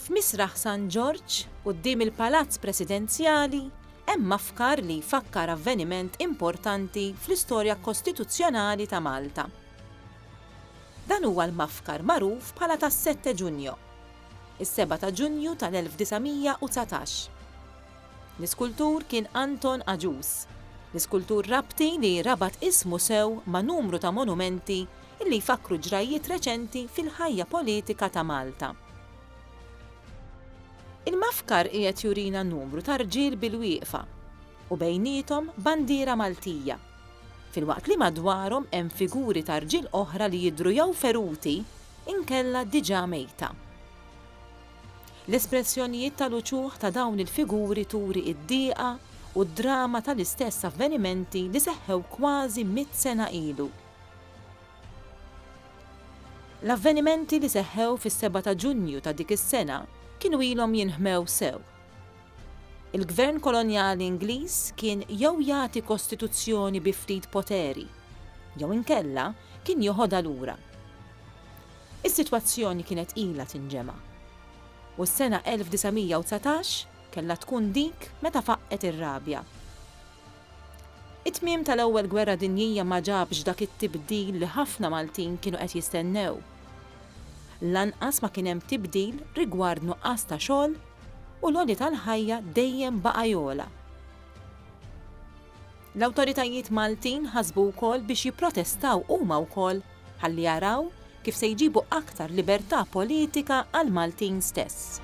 F'Misraħ San Ġorġ, quddiem il-Palazz Presidenzjali, hemm mafkar li jfakkar avveniment importanti fl-istorja kostituzzjonali ta' Malta. Dan huwa l-mafkar magħruf bħala tas-Sette Ġunjo, is-Seba' ta' Ġunju tal-1919. L-iskultur kien Anton Agius, l-iskultur Rabti li rabat ismu sew ma' numru ta' monumenti li jfakkru ġrajjiet reċenti fil-ħajja politika ta' Malta. Il-mafkar qiegħed jurina numru ta' rġiel bilwieqfa u bejniethom bandiera Maltija, filwaqt li madwarhom hemm figuri ta' rġiel oħra li jidhru jew feruti inkella diġà mejta. L-espressjonijiet tal-uċuħ ta' dawn il-figuri turi d-dieqa u d-drama tal-istess avvenimenti li seħħew kważi mitt sena ilu. L-avvenimenti li seħħew fis-seba' ta' Ġunju ta' dik is-sena kienu ilhom jinħmew sew. Il-Gvern Kolonjali Ingliż kien jew jagħti kostituzzjoni bi ftit poteri jew inkella kien joħodha lura. Is-sitwazzjoni kienet ilha tinġema'. U s-sena 1919 kellha tkun dik meta faqqgħet ir-rabja. It-tmiem tal-Ewwel Gwerra Dinjija ma ġabx dak it-tibdil li ħafna Maltin kienu qed jistennew. Lanqas ma kien hemm tibdil rigward nuqqas ta' xogħol u l-għoli tal-ħajja dejjem baqa' jogħla. L-awtoritajiet Maltin ħasbu wkoll biex jipprotestaw huma wkoll ħalli jaraw kif se jġibu aktar libertà politika għall-Maltin stess.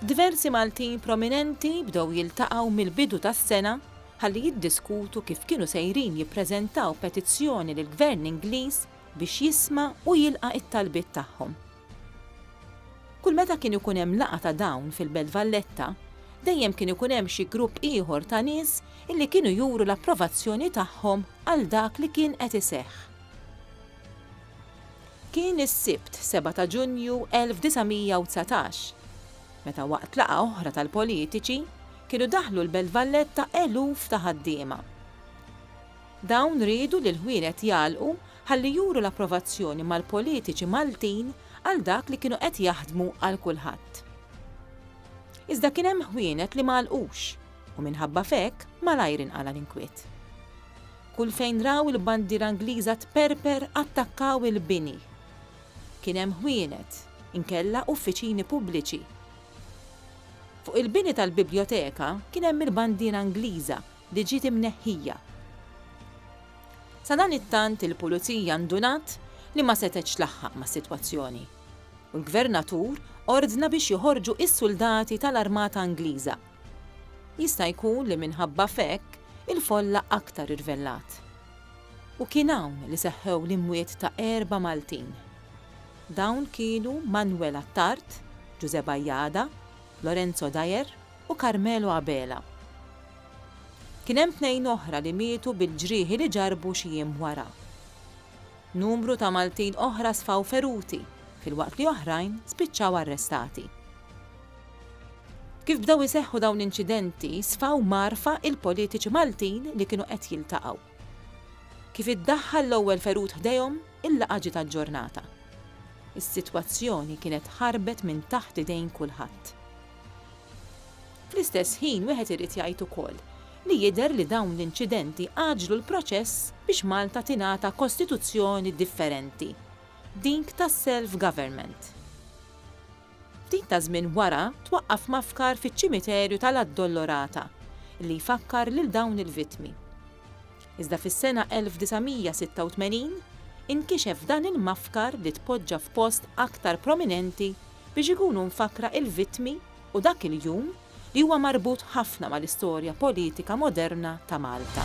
Diversi Maltin prominenti bdew jiltaqgħu mill-bidu tas-sena ħalli jiddiskutu kif kienu sejrin jippreżentaw petizzjoni lill-Gvern Ingliż biex jisma' u jilqa' t-talbiet tagħhom. Kull meta kien ikun hemm laqgħa ta' dawn fil-Belt Valletta, dejjem kien ikun hemm xi grupp ieħor ta' nies illi kienu juru l-approvazzjoni tagħhom għal dak li kien qed iseħħ. Kien is-Sibt 7 ta' Ġunju 1919, meta waqt laqgħa oħra tal-politiċi kienu daħlu l-Belt Valletta eluf ta' ħaddiema. Dawn riedu li l-ħwienet jagħlqu ħalli juru l-approvazzjoni mal-politiċi Maltin għal dak li kienu qed jaħdmu għal kulħadd. Iżda kien hemm ħwienet li ma għalqux u minħabba f'hekk malajr inqala' l-inkwiet. Kull fejn raw il-bandiera Ingliża tperper attakkaw il-bini. Kien hemm ħwienet, inkella uffiċini pubbliċi. Fuq il-bini tal-Bibljoteka kien hemm il-bandiera Ingliża li ġiet imneħħija. Sadanittant il-Pulizija ndunat li ma setgħetx tlaħħaq mas-sitwazzjoni u l-Gvernatur ordna biex joħorġu s-suldati tal-Armata Ingliża. Jista' jkun li minħabba f'hekk il-folla aktar irvellat. U kien hawn li seħħew l-imwiet ta' erba' Maltin. Dawn kienu Manwel Attard, Ġużè Bajada, Lorenzo Dyer, u Carmelo Abela. Kien hemm tnejn oħra li mietu bil-ġrieħi li ġarrbu xi jiem wara. Numru ta' Maltin oħra sfaw feruti filwaqt li oħrajn spiċċaw arrestati. Kif bdew iseħħu dawn l-inċidenti sfaw mgħarrfa il-politiċi Maltin li kienu qed jiltaqgħu. Kif iddaħħal l-ewwel ferut ħdejhom, il-laqgħa ġiet aġġornata. Is-sitwazzjoni kienet ħarbet minn taħt idejn kulħadd. Fl-istess ħin wieħed irid jgħid ukoll li jidher li dawn l-inċidenti għaġġlu l-proċess biex Malta tingħata kostituzzjoni differenti, dik tas-self-government. Ftit ta' żmien wara twaqqaf mafkar fiċ-ċimiterju tal-Addolorata li jfakkar lil dawn il-vittmi. Iżda fis-sena 1986 inkixef dan il-mafkar li tpoġġa f'post aktar prominenti biex ikunu mfakkra il-vittmi u dak il-jum li huwa marbut ħafna mal-istorja politika moderna ta' Malta.